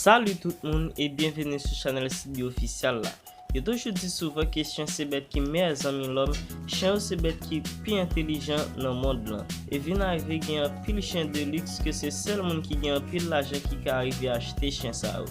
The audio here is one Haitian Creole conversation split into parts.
Salut tout moun e byenveni sou chanel Sibi Ofisyal la. Yo toujou di souvan ke chen se bèt ki meyè zanmi lòm, chen yo se bèt ki pi entelijan nan mond lan. E vin arive gen anpil chen de liks ke se sèl moun ki gen anpil lajan ki ka arive achte chen sa yo.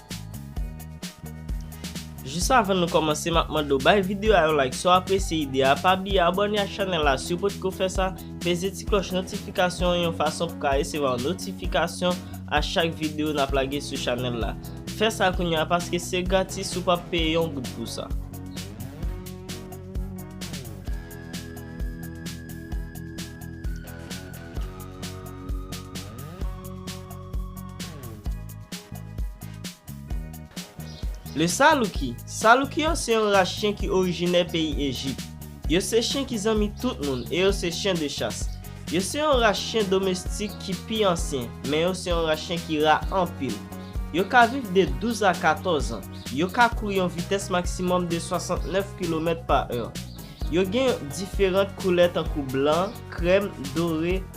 Jis avan nou kòmanse map mande w bay video a yon like si w apresye ide a, pa bliye abòne ak chanèl la si w potko fè sa, peze ti klòch notifikasyon an yon fason pou ka resevwa yon notifikasyon a chak video nap lage sou chanèl la. Fè sa kounye a paske se gratis ou pap peye yon goud pou sa. Le Saluki, Saluki yo se yon ras chen ki orijinè peyi Ejip. Yo se chen ki zanmi tout moun e yo se chen de chas. Yo se yon ras chen domestik ki pi ansyen, men yo se yon ras chen ki ra anpil. Yo ka viv de 12 a 14 an. Yo ka kouri yon vitès maksimòm de 69 kilomèt pa è. Yo gen yon diferant koulè tankou blan, krèm, dore,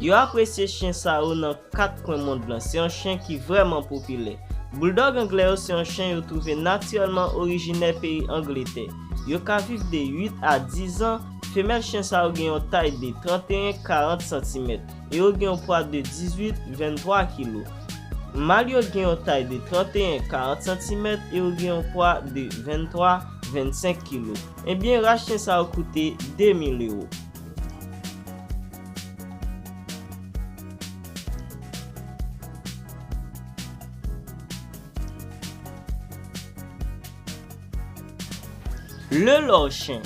Yo apresye chyen sa yo nan kat kwen mond lan, se yon chyen ki vrèman popilè. Bouldòg anglè yo se yon chyen yo twouve natirèlman orijinè peyi Angletè. Yo ka viv de 8 a 10 zan, femèl chyen sa yo gen yon tay de 31, 40 santimèt e yo gen yon pwa de 18, 23 kilo. Mal yo gen yon tay de 31, 40 santimèt e yo gen yon pwa de 23, 25 kilo. Ebyen ras chyen sa yo koute 2 mil ewo. Le lor chen,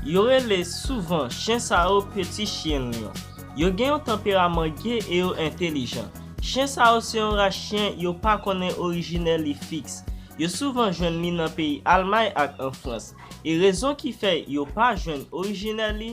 yo rele souvan chen sa yo peti chyen lyon. Yo gen yon tanperaman ge e yo entelijan. Chen sa yo se yon ras chen yo pa konnen orijine li fiks. Yo souvan jwenn li nan peyi Almay ak an Frans. E rezon ki fè yo pa jwenn orijine li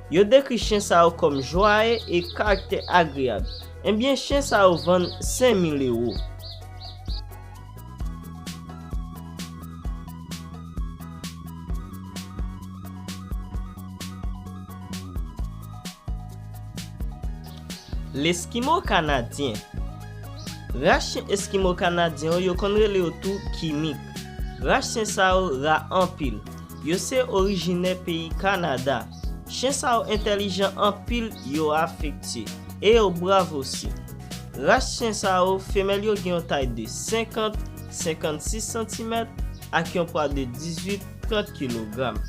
Yo dekri chen sa yo kòm jwaye e karaktè agreyab. Enbyen chen sa yo vann 5000 ewo. Leskimo kanadyen. Ras chen eskimo kanadyen yo konn rele yo tou kimik. Ras chen sa yo ra anpil. Yo se orijinè peyi Kanada. Chen sa yo entèlijan anpil yo afektye e yo brav osi. Ras chen sa yo femèl yo gen yon tay de 50, 56 santimèt ak yon pwa de 18, 30 kilogram.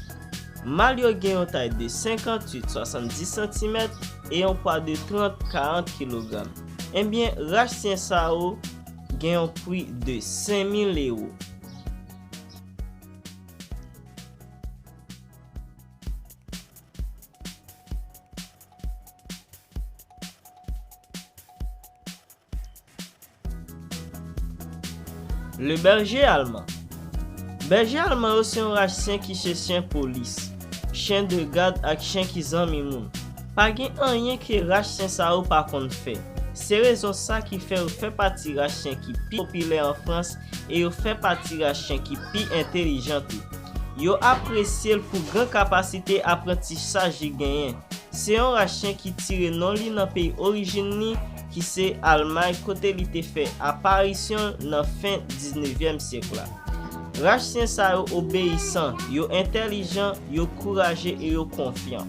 Mal yo gen yon tay de 58, 70 santimèt e yon pwa de 30, 40 kilogram. Enbyen ras chen sa yo gen yon pri de 5000 ewo. Le berger allemand Bèje alman yo se yon rach syen ki se syen polis, chyen de gad ak chyen ki zanmi moun. Pa gen anyen ke rach syen sa yo pa konn fè. Se rezon sa ki fè yo fè pati rach syen ki pi popilè an Frans e yo fè pati ras chen ki pi entelijan tou. Yo apresye l pou gran kapasite aprantisaj li genyen. Se yon ras chen ki tire non li nan peyi orijin li ki se Almay kote li te fè aparisyon l nan fen diznevyèm syèk la. Ras chen sa yo obeyisan, yo entelijan, yo kouraje e yo konfyan.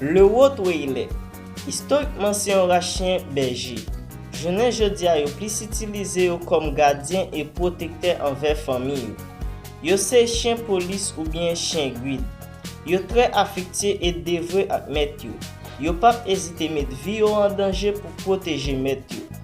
Le Haut Waylè, istorikman se yon ras chyen bèje. Jounen jodi a yo plis itilize yo kòm gadyen e pwotektè anvè fanmi yo. Yo se chyen polis oubyen chyen guid. Yo trè afektye e devwe ak mèt yo. Yo pap ezite met vi yo an danje pou pwoteje mèt yo.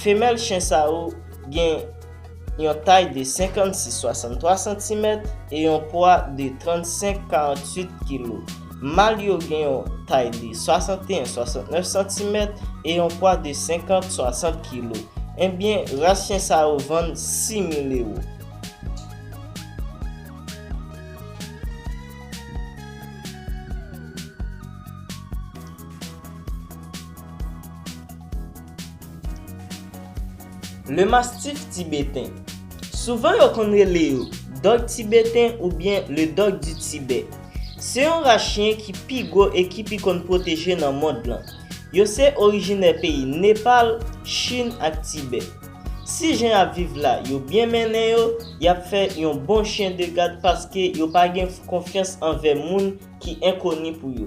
Femèl chen sa yo gen yon tay de 56-63 santimèt e yon pwa de 35-48 kilo. Mal yo gen yon tay de 61-69 santimèt e yon pwa de 50-60 kilo. Enbyen, ras chen sa yo vann 6 mil ewo. Le mastif tibeten. Souvan yo konn rele yo Dòg tibeten oubyen Le Dog du Tibet. Se yon ras chyen ki pi gwo e ki pi konn pwoteje nan mond lan. Yo se orijinè peyi Nepal, Chin ak Tibè. Si jen y ap viv la yo byen mennen yo, y ap fè yon bon chyen de gad paske yo pa gen konfyans anvè moun ki enkoni pou yo.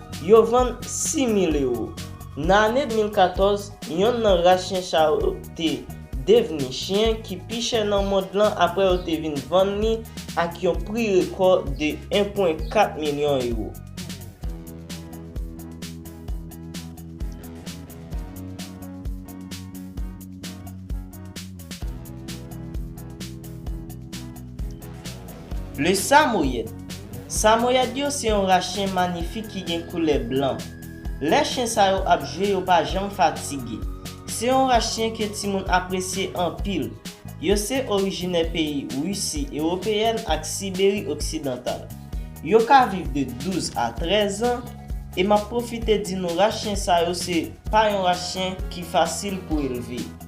Yo vann 6 mil ewo. Nan ane 2014, yonn nan ras chyen sa yo te devni chyen ki pi chè nan mond lan apre yo te vin vann li ak yon pri rekò de 1,4 milyon ewo. Le Samoyèd Samoyèd yo se yon ras chen manyifik ki gen koulè blan. Lè chen sa yo ap jwe yo pa janm fatige. Se yon ras chen ke timoun apresye anpil. Yo se orijinè peyi Risi Ewopeyèn ak Siberi Oksidantal. Yo ka viv de 12 a 13 an e m ap pwofite di nou ras chen sa yo se pa yon ras chen ki fasil pou elve.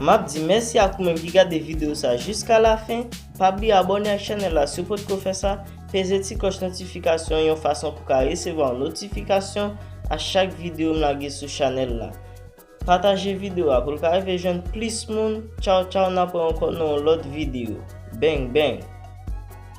Map di mèsi ak ou menm ki gade video sa jiska la fen, pa bliye abòne ak chanèl la si w potko fè sa, peze ti klòch notifikasyon an yon fason pou ka resevwa yon notifikasyon a chak video m lage sou chanèl la. Pataje video a pou l ka rive jwenn plis moun, tchaw tchaw nap wè ankò nan yon lòt video. Bang bang.